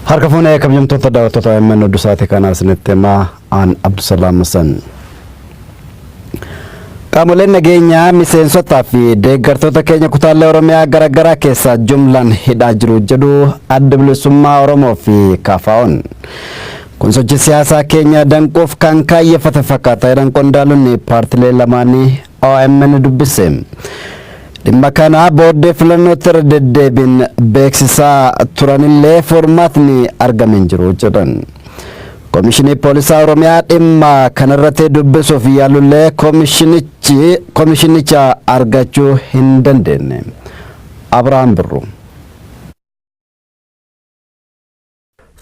Harka fuunee kabajamtoota daawwattoota OMN oduu sa'aatii kanaa isinitti himaa aan Abdusalaam Hasan. Qaamoleen nageenyaa miseensotaa fi deeggartoota keenya kutaalee Oromiyaa garaagaraa keessaa jumlaan hidhaa jiru jedhu adda bilisummaa Oromoo fi KFO'n. Kun sochii siyaasaa keenya danquuf kan kaayyeffate fakkaata jedhan qondaalonni paartilee lamaanii omn dubbise. Dhimma kana booddee filannootti irra deddeebiin beeksisaa turanillee furmaatni argame hin jiru jedhan. Komishinii Poolisaa Oromiyaa dhimma kanarratti dubbisuuf yaalullee komishinichi komishinicha argachuu hin dandeenye. Abrahaam Birruu.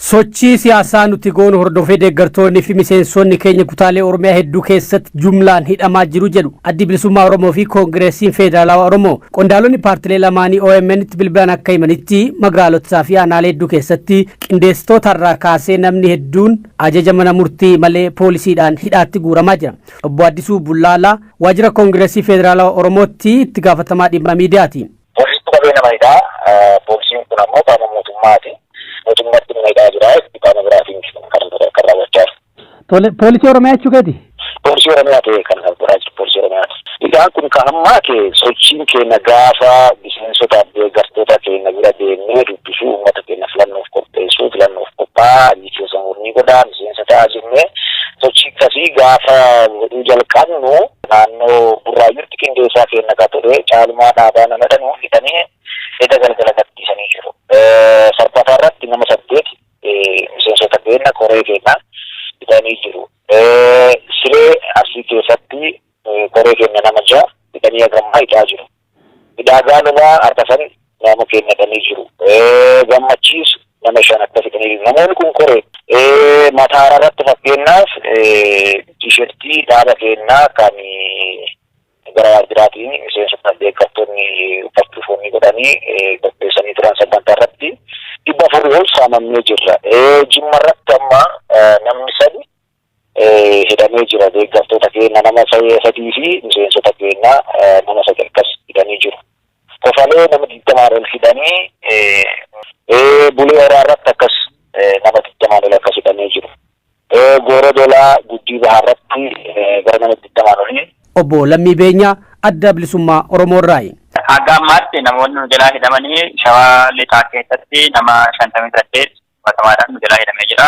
Sochii siyaasaa nuti goonu hordofee deeggartoonni fi miseensonni keenya kutaalee Oromiyaa hedduu keessatti jumlaan hidhamaa jiru jedhu Addi Bilisummaa Oromoo fi Koongireesiin Feederaalaawaa Oromoo. Qondaalonni paartilee lamaanii OMNtti bilbilaan akka himanitti magaalotaa fi aanaalee hedduu keessatti qindeessitoota irraa kaasee namni hedduun ajaja mana murtii malee poolisiidhaan hidhaatti guuramaa jira. Obbo Addisuu Bullaalaa waajjira Koongireesii Feederaalaawaa Oromootti itti gaafatamaa dhimma miidiyaati. Poolisichi qabee nama hidhaa. Poolisiin kun ammoo qaama mootummaati. Mootummatti nama hidhaa jira. Itti qaama biraatiin miti kan kana godhe kan raawwachaa jiru. Tole, poolisii Oromiyaa jechuu keeti? Poolisii Oromiyaa ta'ee kan kana godhaa jiru poolisii Oromiyaati. Hidhaan kun kan hammaate sochiin keenya gaafa miseensotaaf deeggartoota keenya bira deemnee dubbisuu, uummata keenya filannoof qopheessuu, filannoof qophaa'aa, Miseensa mormii godhaa, miseensa ta'aa jennee sochii akkasii gaafa godhuu jalqabnu naannoo Burraayyuutti qindeessaa keenya ka ture Caalumaa Dhaabaa nama jedhamu hidhanii eda galgala gadhiisanii jiru. Sabbataa irratti nama saddeet miseensota keenya koree keenya hidhanii jiru. Siree Arsii keessatti koree keenya nama ja'a hidhanii hagammaa hidhaa jiru. Midhaagaan ulaa arfafan naama keennatanii jiru. Gammachiis nama shan akka fidanii jiru. Namoonni kun koree. Mataara irratti fakkeenyaaf tiishertii dhaaba keennaa kan gara waajjiraatiin miseensota deeggartoonni uffachuuf wanni godhanii qopheessanii turan sagantaa irratti dhibba afurii ol saamamnee jirra. Jimma irratti amma namni sadi hidhamee jira deeggartoota keenna nama sadii fi miseensota keenna nama sadi akkas hidhanii jiru kofalee nama digdamaan ol hidhanii bulee horaa irratti akkas nama digdamaan ol akkas hidhamee jiru gooroo dolaa guddii bahaa irratti gara nama digdamaan olii Obbo Lammii Beenyaa Adda Bilisummaa Oromoo irraayi. Hanga ammaatti namoonni nu jalaa hidhamanii shawaa lixaa keessatti nama shantamii saddeet qabatamaadhaan nu jalaa hidhamee jira.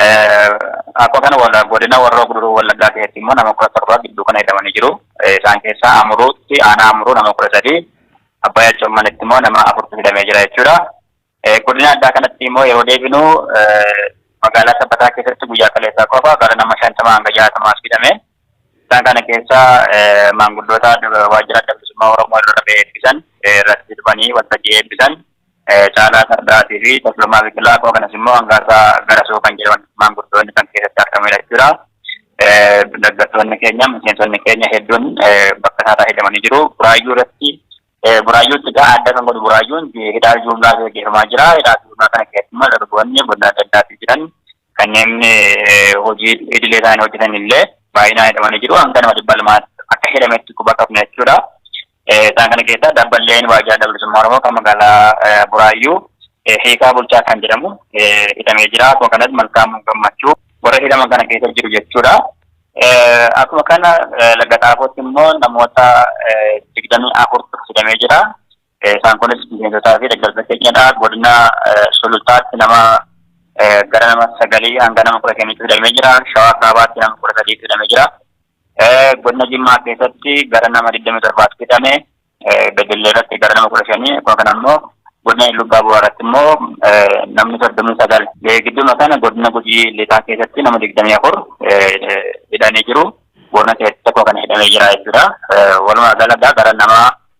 Akkuma kana godina Horroo Guduruu Wallaggaa keessatti immoo nama kudha torba gidduu kana hidhamanii jiru. Isaan keessaa Amuruutti aanaa Amuruu nama kudha sadii Abbaayyaa Commanitti immoo nama afurtu hidhamee jira jechuudha. Godina addaa kanatti immoo yeroo deebinu magaalaa Sabbataa keessatti guyyaa kaleessaa qofa gara nama shantama hanga jaatamaas hidhame. Isaan kana keessaa maanguddoota waajjira adda bilisummaa Oromoo irra eebbisan irratti hidhamanii waltajjii eebbisan Caalaa Sardaatii fi Tashomaa Biqilaa akkuma kanas immoo Hangaasaa Garasoo kan jedhaman maanguddoonni kan keessatti argamanidha jechuudha. Dargaggoonni keenya miseensonni keenya hedduun bakka isaa fayyadamanii jiru. Buraayyuu irratti buraayyuutti gaa adda kan godhu buraayyuun hidhaa juumlaa gaggeeffamaa jira. Hidhaa juumlaa kana keessatti immoo dargaggoonni godina adda addaatti jiran kanneen hojii idilee isaanii hojjetan illee baay'inaan hidhamanii jiru. Hanga nama dhibba lamaatti akka hidhametti quba qabna jechuudha. Isaan kana keessaa Dabballeen Waajjira Adda Bilisummaa Oromoo kan magaalaa Buraayyuu Hiikaa Bulchaa kan jedhamu hidhamee jira. Akkuma kanas Malkaamuu Gammachuu warra hidhaman kana keessa jiru jechuudha. Akkuma kana Laga Xaafootti immoo namoota digdamii afurtu hidhamee jira. Isaan kunis miseensotaa fi deeggarsa keenyadha. Godina Sulultaatti nama gara nama sagalii hanga nama kudha shaniitti hidhamee jira. Shawaa Kaabaatti nama kudha sadiitti hidhamee jira. Godina Jimmaa keessatti gara nama 27 fixame, Bedelle irratti gara nama 15, akkuma kana immoo godina Iluu Abbaa Booraa irratti immoo namni 39. Gidduuma kana godina Gujii Lixaa keessatti nama 24 hidhanii jiru. Boorana keessatti tokko kan hidhamee jira jechuudha. Walumaa galatti gara nama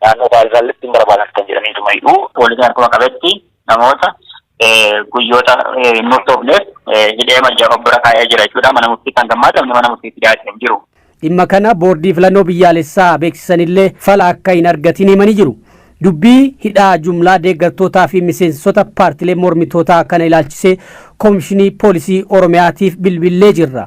naannoo baay'isaallee ittiin barbaadan kan jedhanii tuma hidhu. Poolisiin akkuma qabetti namoota guyyoota hin murtoofneef hidhee majjaa of bira kaa'ee jira jechuudha. Mana murtii kan gammaadamne mana murtiitti dhiyaatee hin jiru. Dhimma kana boordii filannoo biyyaalessaa beeksisanillee fala akka hin argatiin himanii jiru. Dubbii hidhaa jumlaa deeggartootaa fi miseensota paartilee mormitootaa kana ilaalchisee Komishinii Poolisii Oromiyaatiif bilbillee jirra.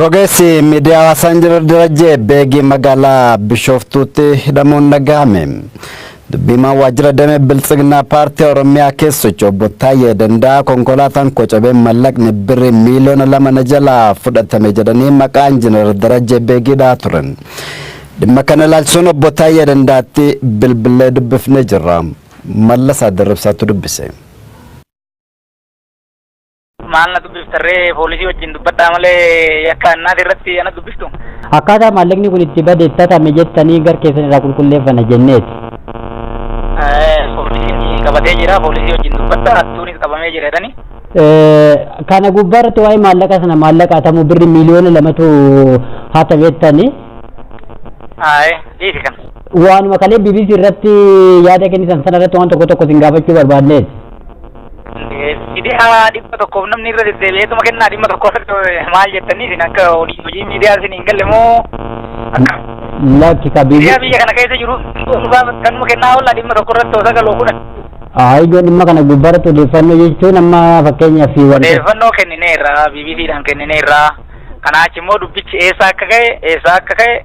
Rogeessi miidiyaa hawaasaa Injinar Darajjee Beegii magaalaa Bishooftuutti hidhamuun dhaga'ame. Dubbiimaan waajjira damee Biltsiginnaa paartii Oromiyaa keessa socho'u obbo Taayyee Danda'a konkolaataan koo cabee mallaqni birrii miiliyoona lama na jalaa fudhatame jedhanii maqaa Injinar Darajjee Beegii dha'aa turan. Dhimma kana ilaalchisuun obbo Taayyee Dandaatti bilbilee dubbifnee jirra. Mallasaa Dirribsaatu dubbise. Maal na dubbiftarree poolisii wajjin dubbadhaa malee yakka annaati irratti ana dubbistu. Akkaataa maallaqni kun itti bade itti hatame jettanii gar keessan irraa qulqulleeffanna jenneeti. Poolisiin qabatee jira poolisii wajjin dubbadhaa hattuunis qabamee jira jedhanii. Kana gubbaa irratti waa'ee maallaqa sana maallaqa hatamu birri miiliyoona lamatu hatame jettanii. Aayee dhiisi kana. Waanuma kalee BBC irratti yaada kennitan sana irratti waan tokko tokko isin gaafachuu barbaadneeti. Miidiyaa dhibba tokkoof namni irra deddeebi'eetuma kennaa dhimma tokko irratti maal jettanii isin akka hojii hojii miidiyaa isin hin galle moo akka Lakki ka bibi. miidiyaa biyya kana keessa jiru dhuunfaa kanuma kennaa oolla dhimma tokko irratti osoo galoo kudhan Aayidoo dhimma kana gubbaarratti odeeffannoo jechuun amma fakkeenyaaf fi wanta. odeeffannoo kennineerra BBCdhaan kennineerra kanaa achi immoo dubbichi eessaa akka ka'e eessaa akka ka'e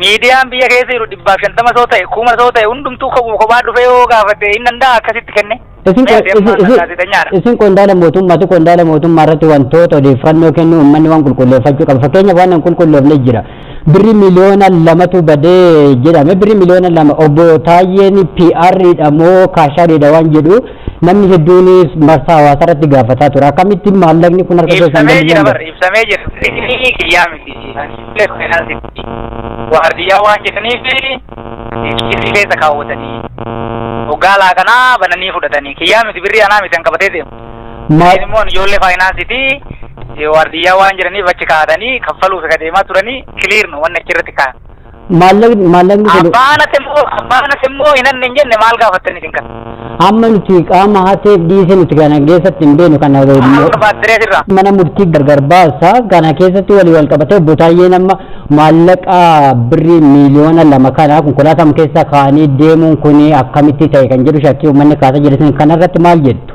Miidiyaan biyya keessa jiru dhibbaaf shantama soo ta'e kuma soo ta'e hundumtuu kophu kophaa dhufee yoo gaafate hin danda'a akkasitti kenne. Isin Mee ati amma isin- isin- gaazexeenyaadha. isin qondaala mootummaati qondaala mootummaa irratti wantoota odeeffannoo kennu uummanni waan qulqulleeffachuu qaba fakkeenyaaf waan hin qulqulloofne jira birri miliyoona lamatu badee jedhame birri miliyoona lama obbo Taayyeen PR'dha moo kaashaadha waan jedhu Namni hedduunis marsaa hawaasaa irratti gaafataa ture. Akkamittiin maallaqni kun harka keessan ibsamee jira bar gadhiisan? ibsamee jira inni kiyyaa miti illee faayinaansitti waardiyyaa waan jedhaniif kiisii keessa kaawwatanii hoggaa alaa kanaa bananii fudhatanii kiyyaa miti birrii anaa miti kan qabatee deemu Ma- Isin immoo ijoollee faayinaansitti waardiyyaa waan jedhaniif achi kaa'atanii kaffaluuf akka deemaa turanii kiliirnu wanni achi irratti kaa'an maallaqni maallaqni kun Abbaa anati immoo abbaa anati immoo hin anne hin jenne maal gaafattanii isin kana. amma nuti qaama hateef dhiisee nuti kana keessatti hin beenu kana Maal barbaaddiree sirraa? mana murtii gargar baasa kana keessatti walii wal qabatee obbo Taayyeen amma maallaqa birrii miiliyoona lama kana konkolaataa keessa kaanii deemuun kun akkamitti ta'e kan jedhu shakkii uummanni kaasaa jiru isin kanarratti maal jettu?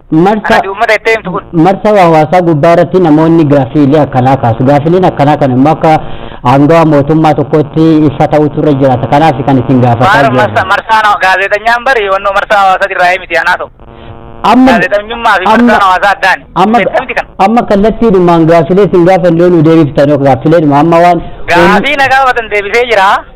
Marsa Ati uummata itti himtu kun. marsa hawaasaa gubbaa irratti namoonni gaaffiilee akkanaa kaasu. Gaaffiileen akkanaa kan immoo akka aangawaa mootummaa tokkootti ifa ta'utu irra jiraata. Kanaaf kan isin gaafataa Maal marsa jiru. marsaan hawa- gaazexanyaan bari wannoo marsaa hawaasaati irraa miti anaa ta'u. Amma Gaazexanyummaa fi amma- marsaan hawaasaa addaan. amma Beekamti kana. amma kallattiidhumaan gaaffilee isin gaafanne yoo nu deebiftan yoo gaaffileedhuma amma waan Gaafii na gaafatan deebisee jira.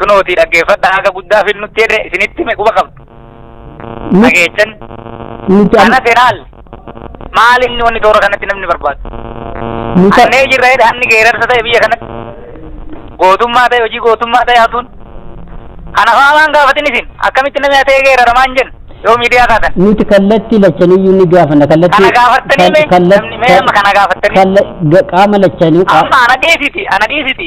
kunooti dhaggeeffadha haga guddaa fil nutti jedhe isinitti me quba qabdu dhageechan Nuti amma- kanas ilaal maal inni wanni toora kanatti namni barbaadu nuti annee jirra jedhe hanni geerarsa ta'e biyya kanatti gootummaa ta'e hojii gootummaa ta'e hatuun kana faalaan gaafatin isin akkamitti namni hatee geeraramaa hin jennu yoo miidiyaa kaatan nuti kallattii lachaniyyuu ni gaafanna kallattii Kana gaafattanii mee? kal- kallat- Namni mee amma kana gaafattanii? kalla- ga- qaama lachanii qaa- amma ana dhiisiti ana dhiisiti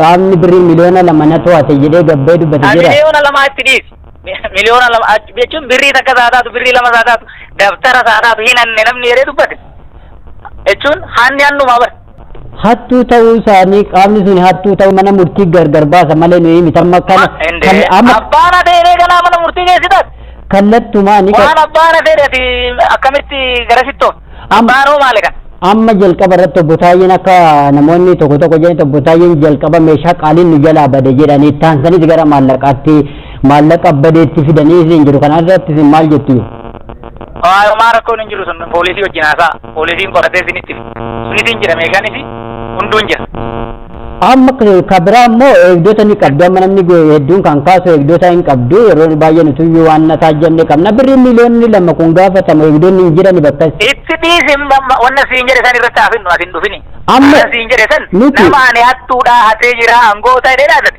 qaamni birrii miliyoona lama na to'ate jedhee gabbee dubbate jira. Miliyoona lama achi dhiisi. Miliyoona lama achi jechuun birrii takka isaa taatu birrii lama isaa taatu dabtara isaa taatu hin hanne namni jedhee dubbate. Jechuun hanni hannumaa bara. Hattuu ta'uu isaanii qaamni sun hattuu ta'uu mana murtii gargar baasa malee nuyi miti amma kana kan amma Abbaan adeemee ganaa mana murtii geessitas. kallattumaa ni Waan abbaan adeemee akkamitti gara sittoo. Am- Abbaaroo maali kan? Amma jalqaba irratti obbo Taayyeen akka namoonni tokko tokko jedhan obbo Taayyeen jalqaba meeshaa qaaliin nu jalaa bade jedhanii taansanis gara maallaqaatti maallaqa badeetti fidanii isin jiru kana irratti isin maal jettu? Waayomaa rakkoon hin jiru sun poolisii wajjin haasaa. Poolisiin qoratee isinitti hima. Sunis hin jira meeshaanis hunduun jira. Amma ka biraa immoo eegdota ni qabdu. Amma namni hedduun kan kaasu eegdota hin qabdu. Yeroo baay'ee nutuyyuu waan na taajjabne qabna. Birrii miiliyoonni lama kun gaafatamu eegdonni hin jirani bakka. Itti dhiisi wanna siin jedhe san irratti hafinnu ati hin dhufini. Amma siin jedhe san nama ani hattuudhaa hatee jira angoota jedhee laatati.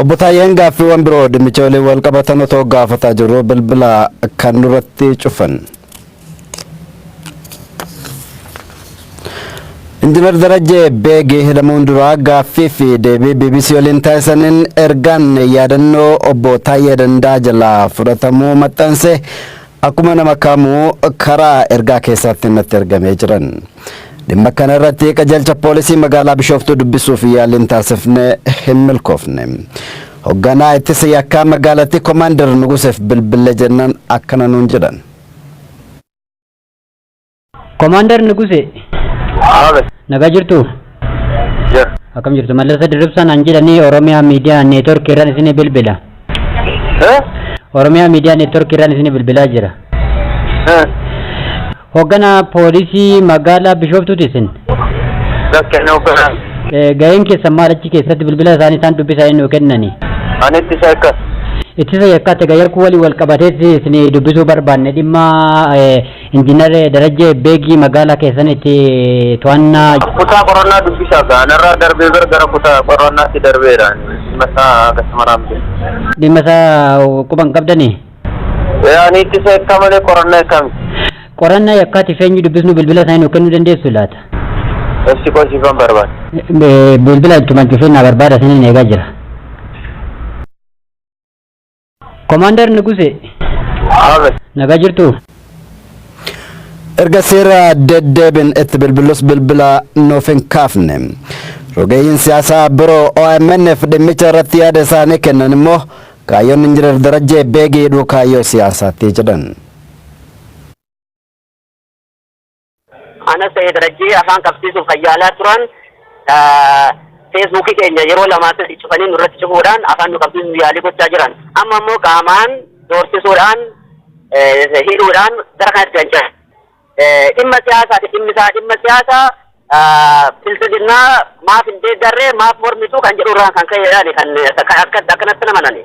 Obbo Taayyeen gaaffiiwwan biroo dhimmicha waliin wal qabatan otoo gaafataa jirru bilbila kan nurratti cufan. Injinar Darajjee Beegii hidhamuun duraa gaaffii fi deebii BBC waliin taasisaniin ergaan yaadannoo obbo Taayyee Dandaa jalaa fudhatamuu maxxanse Akkuma nama kamuu karaa ergaa keessaatiin natti ergamee jiran. Dhimma kana irratti qajeelcha poolisii magaalaa Bishooftuu dubbisuuf yaaliin taasifne hin milkoofne. Hogganaa ittisa yakkaa magaalattii Komaander Nuguseef bilbille jennaan akkana nuun jedhan. Komaandar Nuguse, Abe. nagaa jirtu? Yes. Akkam jirtu? Mallasa Dirribsaan an jedhanii Oromiyaa Miidiyaa Neetworkii irraan isin bilbila. Eh? Oromiyaa Miidiyaa Neetworkii irraan isin bilbilaa jira. Eh. Hoogganaa poolisii magaalaa Bishooftuuti isin. Bakka inni hogganaan. Eh, Ga'een keessan maal achi keessatti bilbila isaanii isaan dubbisaa inni kennani. Ani itti isa akka. Ittisa yakkaa ta'e gayyarkuu waliin wal qabateetti isin dubbisuu barbaanne dhimma eh, Injiinar Darajjee Beegii magaalaa keessanitti to'annaa. Kutaa qorannaa dubbisaa gaa anarraa darbee bar gara kutaa qorannaatti darbeera ani dhimma isaa akkasumara hin beeku. Dhimma isaa quba hin qabdani? Ee ani ittisa yakkaa malee qorannaa yakkaa miti. Qorannaa yakkaatiif eenyu dubbisnu bilbila isaanii nuuf kennuu dandeessu laata? Ibsi koo siifan barbaada. Bilbila ittuma cufee naa barbaada isiniin eegaa jira. Komaandar Nuguse. Nagaa jirtu? Erga seera deddeebin itti bilbilus bilbila nuuf hin kaafne. Rogeeyyiin siyaasaa biroo OMN'f dhimmicha irratti yaada isaanii kennan immoo kaayyoon Injinar Darajjee Beegii hidhuu kaayyoo siyaasaatti jedhan. Anas ta'ee darajjee afaan qabsiisuuf kan yaalaa turan feesbuukii keenya yeroo lamaa sadii cufanii nurratti cufuudhaan afaan nu qabsiisuuf yaalii gochaa jiran. Amma immoo qaamaan doorsisuudhaan hidhuudhaan gara kanatti kan jiran. Dhimma siyaasaati dhimmi isaa dhimma siyaasaa bilbilinaa maaf hin deeggarree maaf mormituu kan jedhu irraan kan ka'eedhaan kan akkanatti namanani.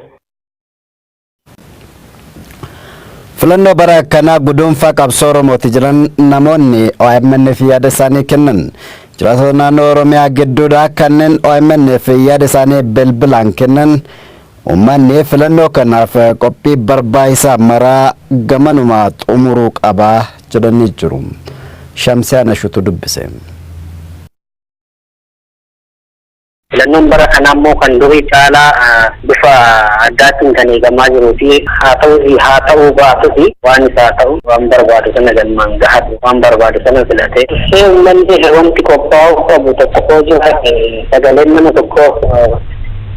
Filannoo bara akkanaa guduunfaa qabsoo Oromooti jiran namoonni OMNf yaada isaanii kennan. Jiraatota naannoo Oromiyaa gidduudhaa kanneen OMNf yaada isaanii bilbilaan kennan uummanni filannoo kanaaf qophii barbaachisaa maraa gamanumaa xumuruu qaba jedhanii jiru. Shamsiyaan Ashutu dubbise. Filannoon bara kanaa immoo kan durii caalaa bifa addaatiin kan eegamaa jiruu fi haa ta'us haa ta'uu baatus waan isa haa ta'u waan barbaadu sana galmaan gahatu waan barbaadu sana filatee dursee uummanni wanti qophaa'uu qabu tokko yoo jiraate sagaleen nama tokkoo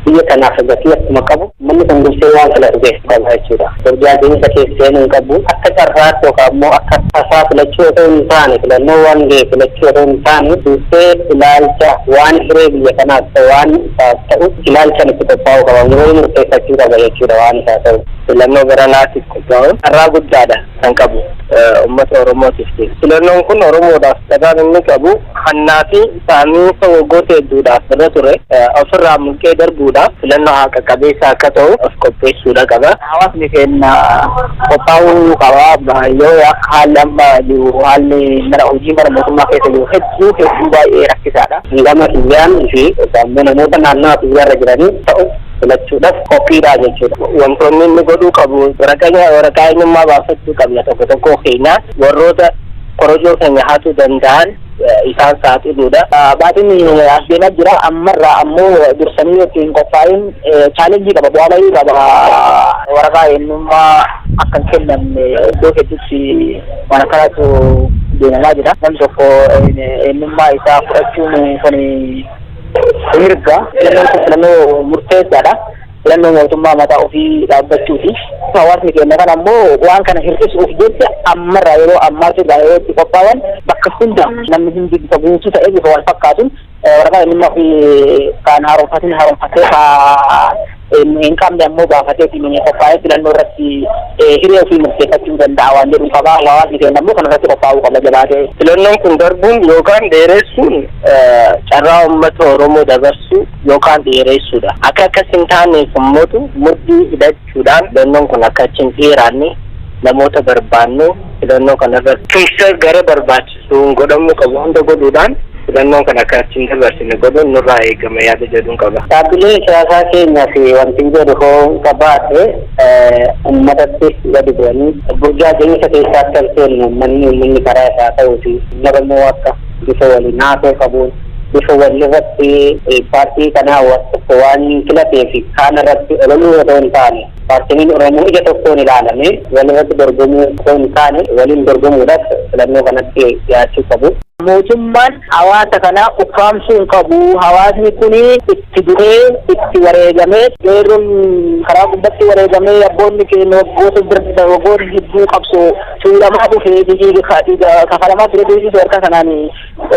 biyya kanaaf gatii akkuma qabu Namni kun dursee waan filatu beekuu qaba jechuudha. Burjaajiinsa keessa seenuu hin qabu. Akka carraatti yookaan immoo akka tasaa filachuu otoo hin taane, filannoo waan gahe filachuu otoo hin taane, dursee ilaalcha waan hiree biyya kanaaf ta'u, waan isaaf ta'u ilaalchaan itti qophaa'uu qaba. Yeroo murteeffachuu qaba jechuudha waan isaa ta'u. Filannoo baranaatiif qophaa'uun carraa guddaadha. kan qabu ummata Oromootiifti. Filannoon kun Oromoodhaaf carraan inni qabu hannaa fi saamiinsa waggoota hedduudhaaf irra ture ofirraa mulqee darbuudhaaf filannoo haqa qabeessa akka ta'u of qopheessuudha qaba. Hawaasni keenya qophaa'uu qaba. Yoo akka haalli amma jiru haalli mana hojii mana mootummaa keessa jiru hedduu hedduu baay'ee rakkisaadha. Gama kiyyaan fi namoota naannawaa kiyyaarra jiranii ta'u filachuudhaf qophiidha jechuudha. Wantoonni inni godhuu qabu waraqaa waraqaa eenyummaa baafachuu qabna tokko tokkoo keenyaa warroota korojoo keenya hatuu danda'an isaan saaxiluudha. Baatiin as deemaa jira ammarraa ammoo dursanii itti hin qophaa'in chaalenjii qaba bu'aa bayii qaba waraqaa eenyummaa akka hin kennamne iddoo hedduutti waan akkanaatu deemamaa jira. Namni tokko eenyummaa isaa fudhachuun kun mirga filannoon kun filannoo murteessaadha. Filannoo mootummaa mataa ofii dhaabbachuuti. Hawaasni keenya kana ammoo waan kana hir'isuuf jecha ammarraa yeroo ammaatti irraa yeroo itti qophaa'an bakka hunda namni hundi bifa guutuu ta'ee bifa wal fakkaatuun waraqaa eenyummaa ofii kan haaromfatin haaromfatee hin qabne ammoo baafatee ittiin qophaa'ee filannoo irratti hiree ofii murteeffachuu danda'a waan jedhu qaba. Hawaasni keenya ammoo kana irratti qophaa'uu qaba jabaatee. Filannoon kun darbuun yookaan dheeressuun carraa uummata Oromoo dabarsuu yookaan dheeressuudha. Akka akkas hin taaneef ummatu mudhii hidhachuudhaan filannoon kun akka achi hin dheeraanne namoota barbaannu filannoo kana irratti tumsa gara barbaachisu. sun godhamuu qabu hunda godhuudhaan filannoon kana akka achi hin dabarsine godhuun nurraa eegama yaada jedhun qaba. Dhaabbileen siyaasaa keenya fi wantin jedhu hoo qabaadhe ummatatti gadi bu'anii burjaajiinsa keessa akka hin seenne ummanni ummanni karaa isaa haa ta'uu fi Oromoo akka bifa wal hinaafoo qabuun bifa wal irratti paartii kanaa waan filateef kaan irratti ololuu otoo hin taane Paartileen Oromoo ija tokkoon ilaalamee walirratti dorgomuu osoo hin taane waliin dorgomuudhaaf filannoo kanatti dhiyaachuu qabu. Mootummaan hawaasa kana ukkaamsuu hin qabu. Hawaasni kun itti du'ee, itti wareegamee, qeerroon karaa gubbatti wareegamee, abboonni keenya waggoota darban waggoota hedduu qabsoo tuulamaa dhufee, dhiiga kafalamaa ture deebisuu harka kanaan.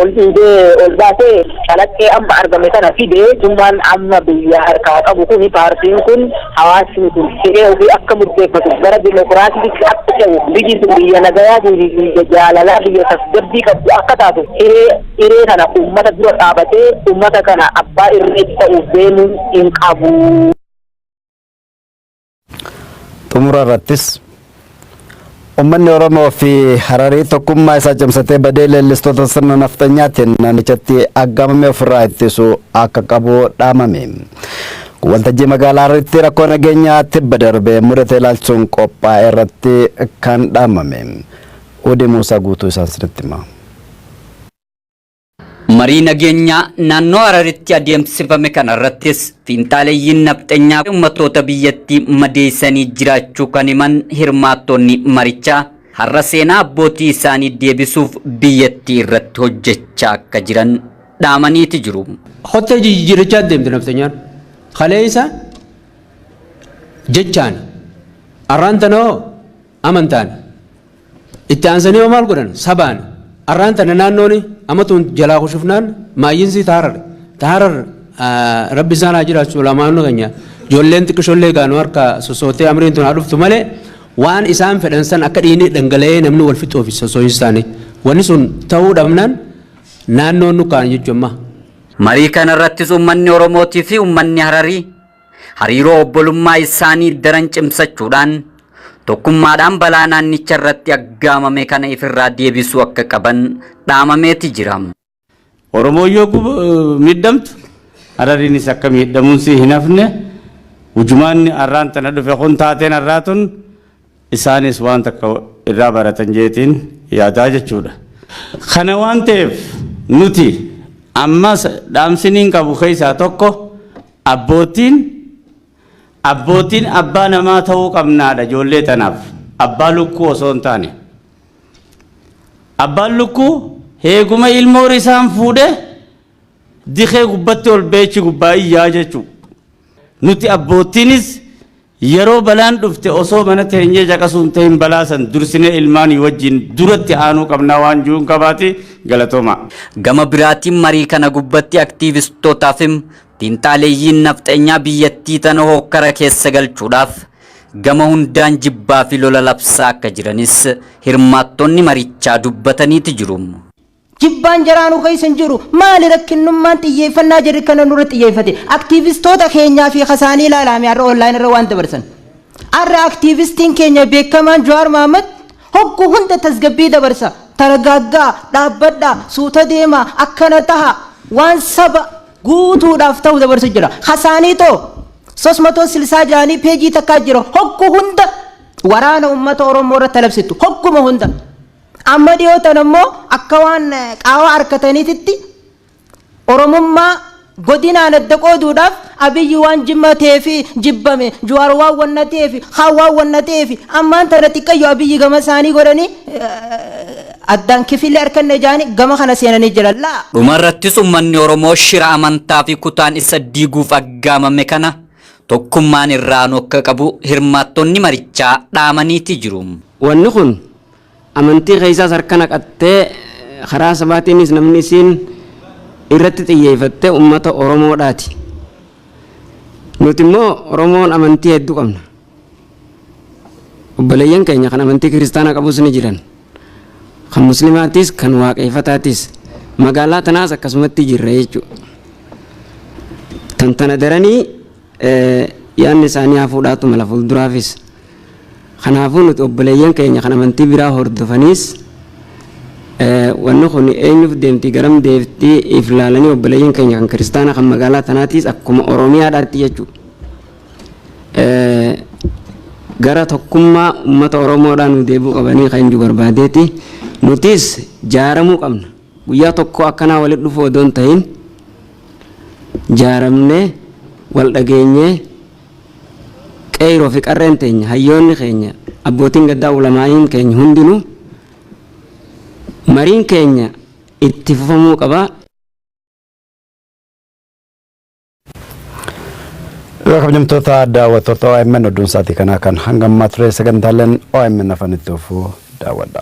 ol dhiibee ol baasee calaqqee amma argame kana fide mootummaan amma biyya harkaa qabu kun paartiin kun hawaasni kun hiree ofii akka murteeffatu gara dimokiraasiitti akka ce'u biyyi sun biyya nagayaa fi biyya jaalalaa biyya tasgabbii qabdu akka taatu hiree hiree kana uummata dura dhaabatee uummata kana abbaa irree ta'uuf deemuu hin qabu. Xumura irrattis Uummanni Oromoo fi Hararii tokkummaa isaa cimsatee badee leellistoota sirna nafxanyaatiin naannichatti aggaamame ofirraa ittisu akka qabu dhaamame. Waltajjii magaalaa Hararitti rakkoo nageenyaa tibba darbe mudate ilaalchuun qophaa'e irratti kan dhaamame. Udi Muusaa guutuu isaan sinitti hima. Marii nageenyaa naannoo Hararitti adeemsifame kanarrattis fiinxaaleyyiin nafxenyaa ummattoota biyyattii madeessanii jiraachuu kan himan hirmaattonni marichaa, har'a seenaa abbootii isaanii deebisuuf biyyattii irratti hojjechaa akka jiran dhaamaniiti jiru. Kottee jijjiirrachaa deemti nafxenyaan. Kaleessa jechaan arraan tana hoo Amantaan. Itti aansanii hoo maal godhan? Sabaan. Arraan tana naannoon amatuun jalaa kushufnaan maayyinsii taarar. Taarar rabbi isaan haa jiraachu ulamaanni keenya ijoolleen xiqqishoollee gaanu harka sosootee amriin tun haa dhuftu malee waan isaan fedhan san akka dhiinii dhangala'ee namni wal fixuuf soso'insi isaanii. Wanni sun ta'uu dhabnaan naannoon nukkaan jechuun ammaa. Marii kanarrattis ummanni Oromootii fi ummanni Hararii hariiroo obbolummaa isaanii daran cimsachuudhaan tokkummaadhaan balaa naannicha irratti aggaamame kana ifirraa deebisuu akka qaban dhaamameeti jira. Oromoon yoo gub- eh, miidhamtu Harariinis akka miidhamuun si hin hafne ujumaanni arraan tana dhufe kun taateen arraa tun Isaanis waan takka irraa baratan jeetiin yaadaa jechuudha. Kana waan ta'eef nuti ammas dhaamsiniin qabu keessaa tokko abbootiin abbootiin abbaa namaa ta'uu qabnaadha ijoollee tanaaf abbaa lukkuu osoo hin taane. Abbaan lukkuu heeguma ilmoo risaan fuudhee dikee gubbatti ol beechi gubbaa iyyaa jechuudha. Nuti abbootiinis Yeroo balaan dhufte osoo mana teenyee caqasuu hin tahin balaa san dursinee ilmaanii wajjiin duratti aanuu qabnaa waan ju'uun qabaati. Galatoomaa. Gama biraatiin marii kana gubbatti aktiivistoota fim xiinxaaleyyiin nafxenyaa biyyattii tana hookkara keessa galchuudhaaf gama hundaan jibbaa fi lola labsaa akka jiranis hirmaattonni marichaa dubbataniiti jiru. Jibbaan jaraa nu keessa hin jiru. Maali rakkinnummaan xiyyeeffannaa jarri kana nurra xiyyeeffate? Aktiivistoota keenyaa fi kasaanii ilaalaame har'a online irra waan dabarsan. Har'a aktiivistiin keenya beekamaan Jawaar Mahammad hoggu hunda tasgabbii dabarsa. Taragaaggaa, dhaabbadhaa, suuta deemaa, akkana tahaa, waan saba guutuudhaaf tahu dabarsu jira. Kasaanii too 366 ni peejii takkaa jira. Hoggu hunda waraana uummata Oromoo irratti labsittu. Hogguma hunda. Amma dhiyoo tana immoo akka waan qaawaa arkataniititti Oromummaa godinaan adda qooduudhaaf Abiyyi waan Jimmaa ta'eef jibbame, Juwaar waan wanna ta'eef, kaan waan wanna ta'eef ammaan tana xiqqayyu Abiyyi gama isaanii godhanii addaan kifilli arkanne jedhanii gama kana seenanii jiran. La! Dhuma irrattis ummanni Oromoo shira amantaa fi kutaan isa diiguuf aggaamame kana tokkummaan irra aanuu akka qabu hirmaattonni marichaa dhaamaniiti jiru. Wanni kun Amantii keessaas harka naqattee karaa sabaatiinis namni isiin irratti xiyyeeffatte ummata Oromoodhaati. Nuti immoo Oromoon amantii hedduu qabna. Obboleeyyan keenya kan amantii kiristaanaa qabus ni jiran. Kan muslimaatiis kan waaqeeffataatiis magaalaa tanaas akkasumatti jirra jechuudha. Tan tana daranii yaadni isaanii hafuudhaatu mala fuulduraafis. Kanaafuu nuti obboleeyyan keenya kan amantii biraa hordofaniis wanni kun eenyuuf deemti garam deemti if laalanii obboleeyyan keenya kan kiristaana kan magaalaa tanaatiis akkuma Oromiyaadhaatti jechuudha. Gara tokkummaa uummata Oromoodhaa nu deebi'uu qabanii kan eenyu barbaadeeti. Nutis jaaramuu qabna. Guyyaa tokkoo akkanaa walitti dhufuu odoo hin tahin jaaramnee wal dhageenyee qeeyroo fi qarreen teenya hayyoonni keenya abbootiin gaddaa ulamaa'iin keenya hundinuu mariin keenya itti fufamuu qaba. Egaa kabajamtoota daawwattoota OMN odduun isaatii kanaa kan hanga ammaa ture sagantaaleen OMN afaan itti fufuu daawwadha.